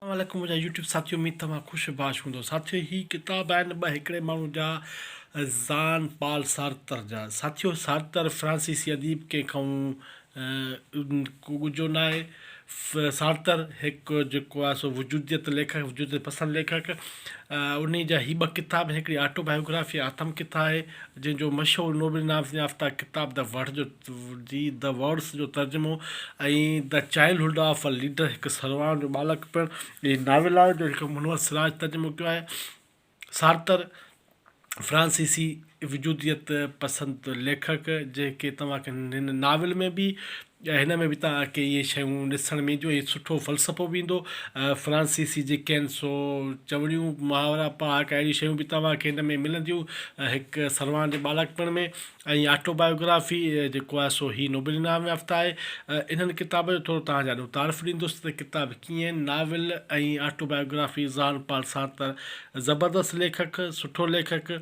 اسلام عليڪم منهنجا يوٽيوب ساٿيو اميد توهان خوش باش هوندو ساٿيو هي ڪتاب آهن ٻه هڪڙي ماڻهو جا زان پال سارتر جا ساٿيو سارتر فرانسيسي اديب ڪنهن کانئون ڳجهو ناهي سارتر هڪ جيڪو آهي سو وجوديت ليکڪ وجوديت پسند ليکڪ انهي جا هي ٻه ڪتاب آهن هڪڙي آٽو بايوگرافي آتم ڪٿا آهي جنهن جو مشهور نوبل انعام يافته ڪتاب د وڙهه جو جي The Words جو ترجمو ۽ The Childhood of a Leader هڪ سرواڻ جو ٻالڪ پڻ هي ناول آهي، جو هڪ منور سراج ترجمو ڪيو آهي. سارتر، فرانسيسي وجوديت پسند ليکڪ، جنهن کي توهان کي هن ناول ۾ به ۽ هن ۾ به توهان کي اهي شيون ڏسڻ ۾ اينديون ۽ سٺو فلسفو به ايندو. فرانسيسي جي ڪين سو چوڻيون، محاورا، پهاڪا اهڙيون شيون به توهان کي هن ۾ ملنديون، هڪ سرواڻ جي ٻالڪ پڻ ۾. ۽ آٽو بايوگرافي جيڪو آهي سو هي نوبل انعام يافته آهي. انهن ڪتابن جو ٿورو توهان جي آڏو تعارف ڏيندس ته ڪتاب ڪيئن آهن. Novel ۽ autobiography Jean Paul Sartre زبردست ليکڪ سٺو ليکڪ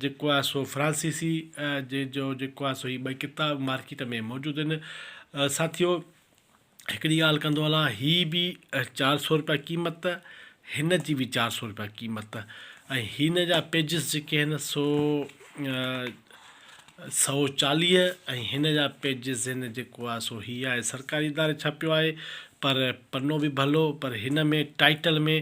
جيڪو آهي سو فرانسيسي جنهن جو جيڪو آهي سو هي ٻئي ڪتاب مارڪيٽ ۾ موجود آهن ساٿيو هڪڙي ڳالهه ڪندو هلان هي به چار سؤ روپيا قيمت ته هن جي به چار سؤ روپيا قيمت ته ۽ هن جا پيجز جيڪي آهن سو سؤ چاليهه ۽ هن جا پيجز هن جيڪو آهي سو هي آهي سرڪاري اداري ڇاپيو آهي پر پنو به ڀلو پر هن ۾ ٽائيٽل ۾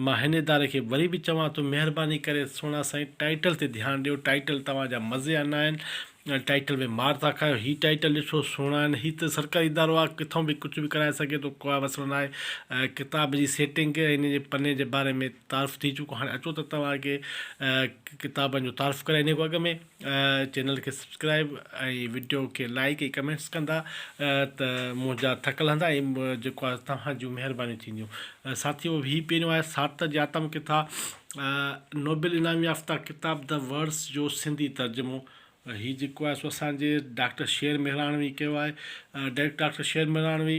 مان هن اداري کي وري به چوان ٿو مهرباني ڪري سهڻا سائين ٽائيٽل تي ڌيان ڏيو ٽائيٽل توهان جا مزي انا آهن ٽائيٽل ۾ مار ٿا کايو هي ٽائيٽل ڏسو سهڻا آهن هي ته سرڪاري ادارو آهي ڪٿون به ڪجهه به ڪرائي سگهي ٿو ڪا مسئلو ناهي ڪتاب جي سيٽنگ ان جي پني جي باري ۾ تعارف ٿي چڪو هاڻي اچو ته توهان کي ڪتابن جو تعارف ڪرائي ان کان اڳ ۾ چينل کي سبسڪرائب ۽ وڊيو کي لائڪ ۽ ڪمينٽس ڪندا ته منهنجا ٿڪل هندا ۽ جيڪو توهان جون مهربانيون ٿينديون ساٿيو هي پهريون آهي سارتر جي آتم ڪٿا نوبل انعام يافته ڪتاب The Words جو سنڌي ترجمو هي جيڪو آهي سو اسان جي ڊاڪٽر شير مهراڻوي ڪيو آهي. ڊائريڪٽر ڊاڪٽر شير مهراڻوي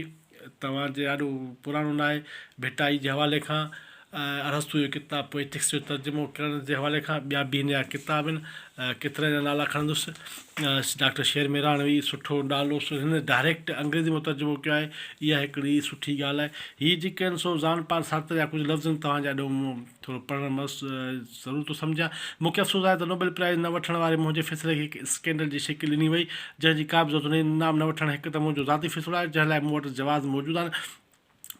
توهان جي آڏو پراڻو نه آهي. ڀٽائي جي حوالي کان ارسطو جو ڪتاب پوئٽڪس جو ترجمو ڪرڻ جي حوالي کان ٻيا به هن جا ڪتاب آهن. ڪيترن جا نالا کڻندس. ڊاڪٽر شير ميراڻوي سٺو نالو سو هن ڊائريڪٽ انگريزي مان ترجمو ڪيو آهي اها هڪڙي سٺي ڳالهه آهي هي جيڪي آهن سو زان پار سارتر جا ڪجهه لفظ آهن توهان جا ڏيون مون ٿورو پڙهڻ مس ضرور ٿو سمجهان مون کي افسوس آهي ته نوبل پرائز نه وٺڻ واري منهنجي فيصلي کي هڪ اسڪينڊل جي شڪل ڏني وئي جنهن جي ڪا به ضرورت نه انعام نه وٺڻ هڪ ته منهنجو ذاتي فيصلو آهي جنهن لاء مون وٽ جواز موجود آهن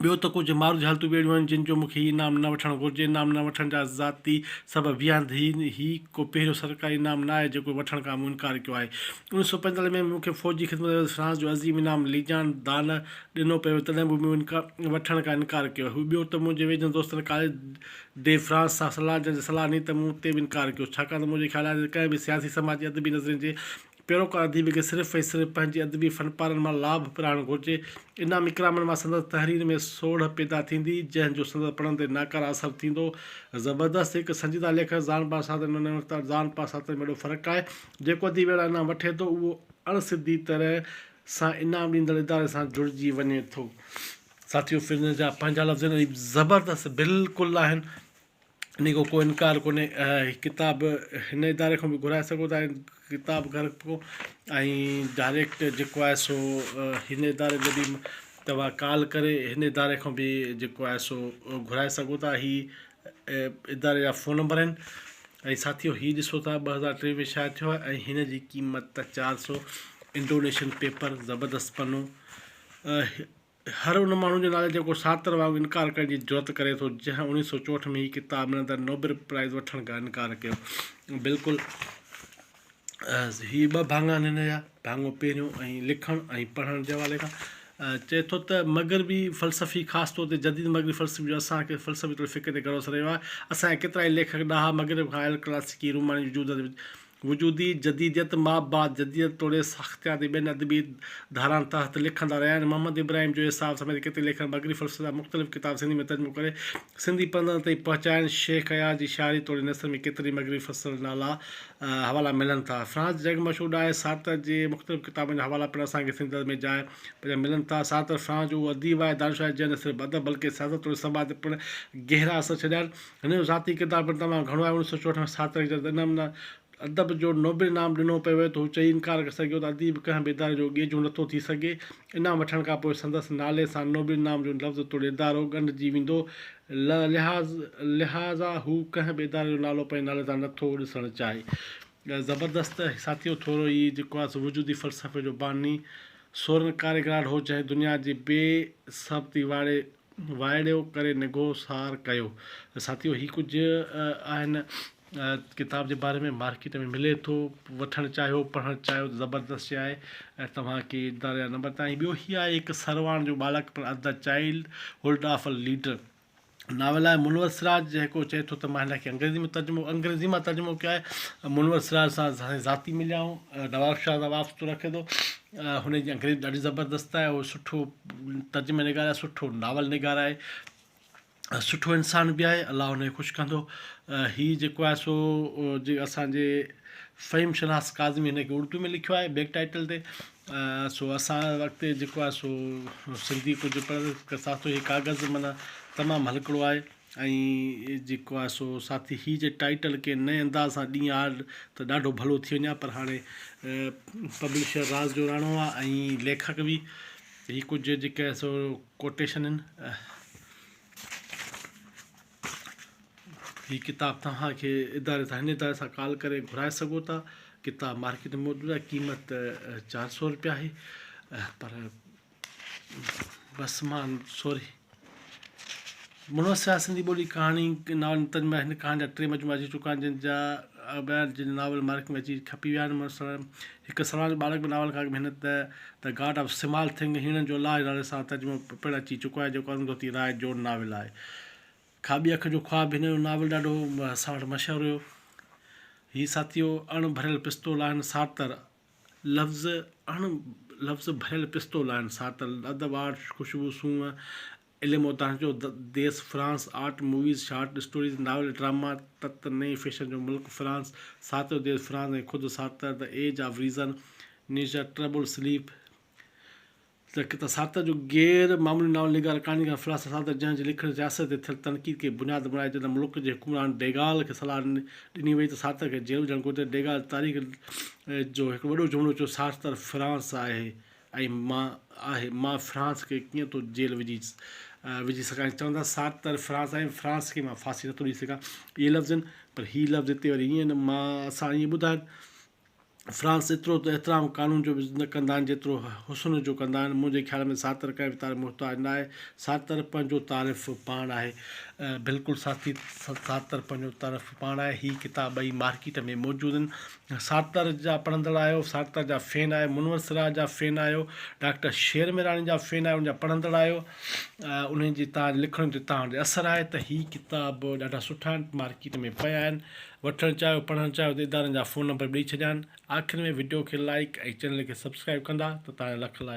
ٻيو ته ڪجهه ماروجهالتون به اهڙيون آهن جن جو مون کي هي انعام نه وٺڻ گهرجي. انعام نه وٺڻ جا ذاتي سبب هي آهن ته هي هي ڪو پهريون سرڪاري انعام نه آهي جيڪو وٺڻ کان مون انڪار ڪيو آهي. انويهه سؤ پنجيتاليهه ۾ به مون کي فوجي خدمت ايوز فرانس جو عظيم انعام ليجان دانه ڏنو پيو ويو تڏهن به مون ان کان وٺڻ کان انڪار ڪيو هو. ٻيو ته منهنجي ويجهن دوستن ڪاليس ڊي فرانس سان صلاح جنهن جي صلاح نيت مون تي به انڪار ڪيو ڇاڪاڻ ته منهنجو خيال آهي ته ڪنهن به سياسي سماجي ادبي نظرين جي پيروڪار اديب کي صرف ۽ صرف پنهنجي ادبي فنپارن مان لاڀ پراڻ گهرجي. انعام اڪرامن مان سندس تحرير ۾ سوڙهه پيدا ٿيندي، جنهن جو سندس پڙهن تي ناڪاره اثر ٿيندو. زبردست هڪ سنجيده ليکڪ زان پا ساتن ۾ ننهن تان زان پا ساتن ۾ وڏو فرق آهي. جيڪو اديب اهڙا انعام وٺي ٿو، اهو اڻ سڌي طرح سان انعام ڏيندڙ اداري سان جڙجي وڃي ٿو. ساٿيو! پنهنجا پنهنجا لفظ ۽ اديب زبردست بلڪل آهن. انهيء کان ڪو انڪار ڪونهي. هي ڪتاب هن اداري کان به گهرائي سگهو ٿا ۽ ڪتاب گهر کان ۽ ڊائريڪٽ جيڪو آهي سو هن اداري جو به توهان ڪال ڪري هن اداري کان به جيڪو آهي سو گهرائي سگهو ٿا هي اداري جا فون نمبر آهن ۽ ساٿيو هي ڏسو ٿا ٻه هزار ٽي ۾ شايع ٿيو آهي ۽ هن جي قيمت چار سو انڊونيشن پيپر زبردست پنو هر ان ماڻهو جي نالي جيڪو سارتر وانگر انڪار ڪرڻ جي جرئت ڪري ٿو جنهن اڻويهه سؤ چوهٺ ۾ هي ڪتاب ملندڙ نوبل پرائيز وٺڻ کان انڪار ڪيو. بلڪل هي ٻه ڀاڱا آهن هن جا، ڀاڱو پهريون ۽ لکڻ ۽ پڙهڻ جي حوالي کان چئي ٿو ته مغربي فلسفي خاص طور تي جديد مغربي فلسفي جو اسان کي فلسفي طور فڪر تي گهڻو اثر رهيو آهي. اسان جا ڪيترائي ليکڪ ڏاها مغرب کان آيل ڪلاسيڪي روماني وجود وجودي جديديت مابعد جديديت توڙي ساختيات جي ٻين ادبي ڌارائن تحت لکندا رهيا آهن. محمد ابراهيم جويي صاحب سميت ڪيتري ليکڪن مغربي فلسفي جا مختلف ڪتاب سنڌي ۾ ترجمو ڪري سنڌي پڙهندڙن تائين پهچايا آهن. شيخ اياز جي شاعري توڙي نثر ۾ ڪيترن ئي مغربي فلسفن جا نالا ۽ حوالا ملن ٿا. فرانس جي جڳ مشهور ڏاهي سارتر جي مختلف ڪتابن جا حوالا پڻ اسان کي سنڌي ادب ۾ جاء پنهنجا ملن ٿا. سارتر فرانس جو اهو اديب آهي، دانشور آهي، جنهن نه صرف ادب بلڪه سياست توڙي سماج تي پڻ گهرا اثر ڇڏيا آهن. هن جو ذاتي ڪردار پڻ تمام گهڻو آهي. اوڻيهه سؤ چوهٺ ۾ سارتر کي جڏهن انعم ادب جو نوبل انعام ڏنو پيو ويو ته هو چئي انڪار ڪري سگهيو ته اديب ڪنهن به اداري جو گيجون نٿو ٿي سگهي. انعام وٺڻ کان پوء سندس نالي سان نوبل انعام جو لفظ توڙي ادارو ڳنڍجي ويندو. لهٰذا هو ڪنهن به اداري جو نالو پنهنجي نالي سان نٿو ڏسڻ چاهي. زبردست ساٿيو ٿورو هي جيڪو آهي سو وجودي فلسفي جو باني سورن ڪاريگراڊ هو جنهن دنيا جي بي ثبتي واري وائڙيو ڪري نگهو سار ڪيو. ساٿيو هي ڪجهه آهن ڪتاب جي باري ۾ مارڪيٽ ۾ ملي ٿو وٺڻ چاهيو پڙهڻ چاهيو ته زبردست شي آهي ۽ توهان کي اداري جا نمبر تائين ٻيو هي آهي هڪ سرواڻ جو ٻالڪ پر اد the childhood of a leader novel آهي منور سراج جيڪو چئي ٿو ته مان هن کي انگريزي ۾ ترجمو انگريزي مان ترجمو ڪيو آهي منور سراج سان ذاتي مليا آهيون نواب شاهه سان وابستو رکي ٿو هن جي انگريزي ڏاڍي زبردست آهي هو سٺو ترجمه نگار آهي سٺو ناول نگار آهي ۽ سٺو انسان به آهي الله ان کي خوش ڪندو هي جيڪو آهي سو جي اسانجي فهيم شناس ڪاظمي هن کي اردو ۾ لکيو آهي بيڪ ٽائيٽل تي سو اسان وقت جيڪو آهي سو سنڌي ڪجهه پڙهه ڪساتو هي ڪاغذ معنيٰ تمام هلڪڙو آهي ۽ جيڪو آهي سو ساٿي هي جي ٽائيٽل ڪنهن نئين انداز سان ڏين ها ته ڏاڍو ڀلو ٿي وڃان پر هاڻي پبلشر راز جوراڻو آهي ۽ ليکڪ به هي ڪجهه جيڪي آهي سو ڪوٽيشن آهن هي ڪتاب توهان کي اداري تان هن اداري سان ڪال ڪري گهرائي سگهو ٿا ڪتاب مارڪيٽ ۾ موجود آهي قيمت چار سو روپيا آهي پر بس مان سوري منور سيال سنڌي ٻولي ڪهاڻي ناول نتن ۾ هن ڪهاڻي جا ٽي مجموعا اچي چڪا آهن جن جا ٻيا جن ناول مارڪيٽ ۾ اچي کپي ويا آهن منور سيال هڪ سلمان جو ٻالڪ به ناول کان اڳ ۾ هن ته The God of Small Thing هيڻن جو الاهه نالي سان ترجمو پڻ اچي چڪو آهي جيڪو ارونڌوتي راء جو ناول آهي کاٻي اک جو خواب هن جو ناول ڏاڍو اسان وٽ مشهور هيو هي ساٿيو اڻ ڀريل پستول آهن سارتر لفظ اڻ لفظ ڀريل پستول آهن ساتل اڌ واڙ خوشبو سونهن علم و دانش جو ديس France art movies short stories novel drama تت نئين فيشن جو ملڪ فرانس ساعت جو ديس فرانس ۽ خود Sartre The Age of Reason نينجا ٽربل سليپ ته ڪتا ساتر جو غير معمولي ناول نگار ڪهاڻيڪار فراست ساتر جنهن جي لکڻي رياست تي ٿيل تنقيد کي بنياد بڻائي جڏهن ملڪ جي حڪمران ڊيگال کي صلاح ڏني وئي ته ساتر کي جيل وجهڻ گهرجي ڊيگال تاريخ جو هڪ وڏو جملو چيو سارتر فرانس آهي ۽ مان آهي مان فرانس کي ڪيئن ٿو جيل وجهي وجهي سگهان چوندا سارتر فرانس آهي فرانس کي مان ڦاسي نٿو ڏئي سگهان اهي لفظ آهن پر هي لفظ هتي وري ائين مان اسان ائين ٻڌايو فرانس ايترو ته احترام قانون جو به نه ڪندا آهن جيترو حسن جو ڪندا آهن منهنجي خيال ۾ سارتر ڪنهن به تعريف محتاج نه آهي سارتر پنهنجو تعرف پاڻ آهي. بلڪل ساٿي سارتر پنهنجو تعرف پاڻ آهي هي ڪتاب ٻئي مارڪيٽ ۾ موجود آهن سارتر جا پڙهندڙ آهيو سارتر جا فين آهيو منور سراج جا فين آهيو ڊاڪٽر شير ميراڻي جا فين آهيو ان جا پڙهندڙ آهيو انهن جي تان لکڻ جو تان اثر آهي ته هي ڪتاب ڏاڍا سٺا آهن مارڪيٽ ۾ پيا آهن وٺڻ چاهيو پڙهڻ چاهيو ته ادارن جا فون نمبر به ڏئي ڇڏيا آهن آخر ۾ وڊيو کي لائيڪ ۽ چينل کي سبسڪرائيب ڪندا ته توهان جو لک لائق.